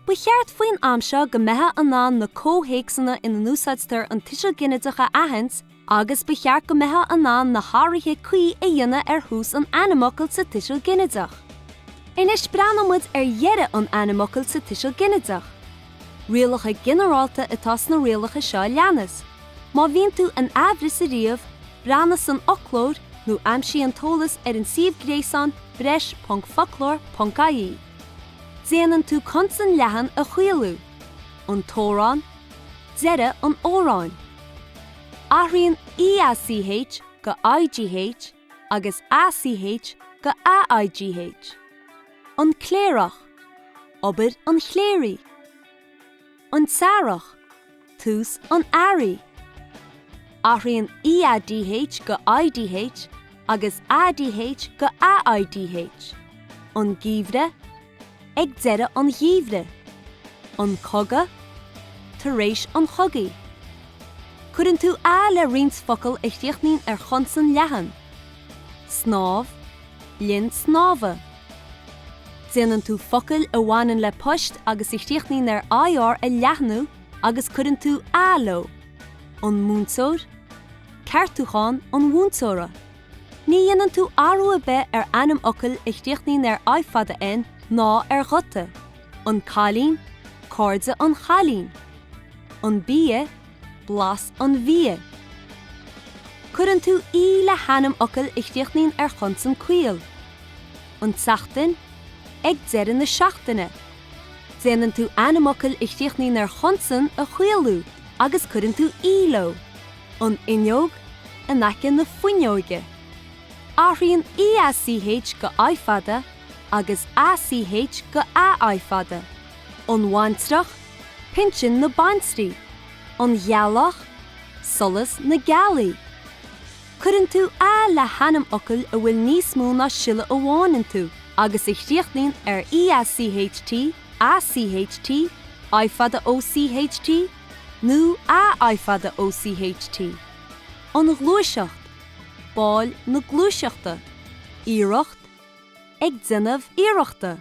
Ba cheart faoin am seo go mbeitheá in ann na comhthéacsanna ina n-úsáidtear an tuiseal ginideach a aithint agus ba cheart go mbeitheá in ann na hathruithe cuí a dhéanamh ar thús an ainmfhocail sa tuiseal ginideach. Anois breathnóidh muid ar dheireadh an ainmfhocail sa tuiseal ginideach. Rialacha ginearálta atá sna rialacha seo a leanas, má bhíonn tú in aimhreas ariamh, breathnaigh san fhoclóir nó aimsigh an t-eolas ar an suíomh gréasáin breis.focloir.ie. Déanann tú consan leathan a chaolú, an t-amhrán, deireadh an amhráin. Athraíonn EACH go IGH agus ACH go AIGH. An Cléireach, obair an chléirigh. An tEarrach, tús an earraigh. Athraíonn EADH go IDH agus ADH go AIDH. An Geimhreadh, ag deireadh an gheimhridh, an cogadh, tar éis an chogaidh. Cuireann tú a le roinnt focal a chríochnaíonn ar chonsan leathan, snámh, linn snámha. Déanann tú focail a bhaineann le poist agus a chríochnaíonn ar IR a leathnú agus cuireann tú a leo, an múinteoir, ceartúchán an mhúinteora. Ní dhéanann tú athrú ar bith ar ainmfhocail a chríochnaíonn ar I fada N ná ar ghuta, an cailín, cairde an chailín, an bia, blas an bhia. Cuireann tú E le hainmfhocail a chríochnaíonn ar chonsan caol, an tseachtain, ag deireadh na seachtaine. Déanann tú ainmfhocail a chríochnaíonn ar chonsan a chaolú agus cuireann tú E leo. an fhuinneog, in aice na fuinneoige. Athraíonn EACH go I fada agus ACH go AI fada, an bhaintreach, pinsin na baintrí, an ghealach, solas na gealaí. Cuireann tú A le hainmfhocail a bhfuil níos mó ná siolla amháin iontu agus a chríochnaíonn ar EACHT, ACHT, I fada OCHT, nó AI fada OCHT, An Ghluaiseacht, Baill na Gluaiseachta, Iarracht, Ag Déanamh Iarrachta,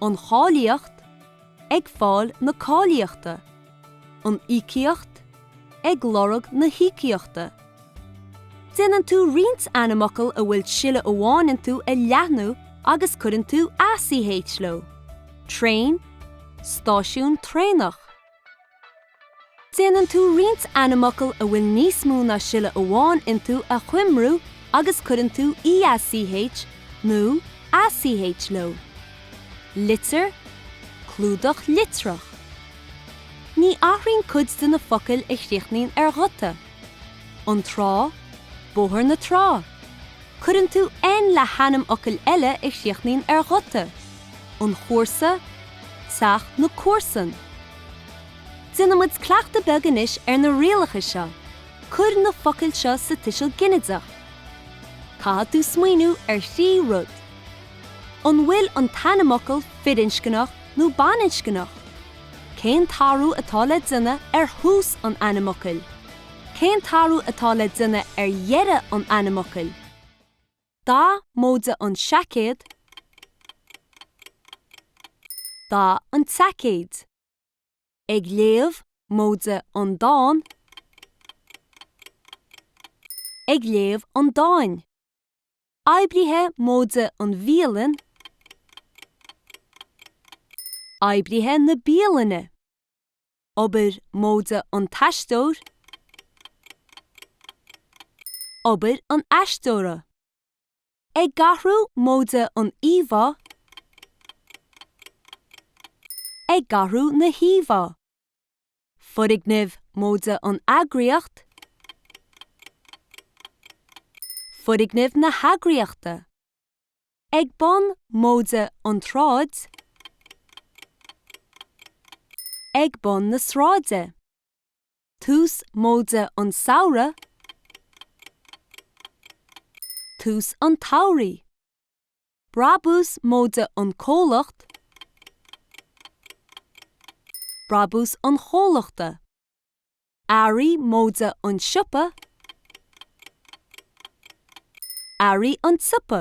An Cháilíocht, Ag Fáil na Cáilíochta, An Íocaíocht, Ag Lorg na hÍocaíochta. Déanann tú roinnt ainmfhocal a bhfuil siolla amháin iontu a leathnú agus cuireann tú ach leo, traein, stáisiún traenach. Déanann tú roinnt ainmfhocal a bhfuil níos mó ná siolla amháin iontu a choimriú agus cuireann tú each nó ach leo, litir, clúdach litreach. Ní athraíonn cuid de na focail a chríochnaíonn ar ghuta. An Trá, Bóthar na Trá. Cuireann tú N le hainmfhocail eile a chríochnaíonn ar ghuta, An Chomharsa, Teach na Comharsan. Déanaimis cleachtadh beag anois ar na rialacha seo, cuir na focail seo sa tuiseal ginideach. Caithfidh tú smaoineamh ar thrí rud. An bhfuil an t-ainmfhocal firinscneach nó baininscneach? Cén t-athrú atá le déanamh ar thús an ainmfhocail? Cén t-athrú atá le déanamh ar dheireadh an ainmfhocail? Dath móide an seaicéad, dath an tseaicéid. Ag léamh, móide an dán, ag léamh an dáin. oibrithe móide an bhialann, oibrithe na bialainne, obair móide an t-aisteoir, obair an aisteora, ag athrú móide an íomhá, ag athrú na híomhá. Foirgnimh móide an eagraíocht, foirgnimh na heagraíochta, ag bun móide an tsráid, ag bun na sráide, tús móide an samhradh, tús an tsamhraidh. brabús móide an comhlacht, brabús an chomhlachta, earraí móide an siopa, earraí an tsiopa.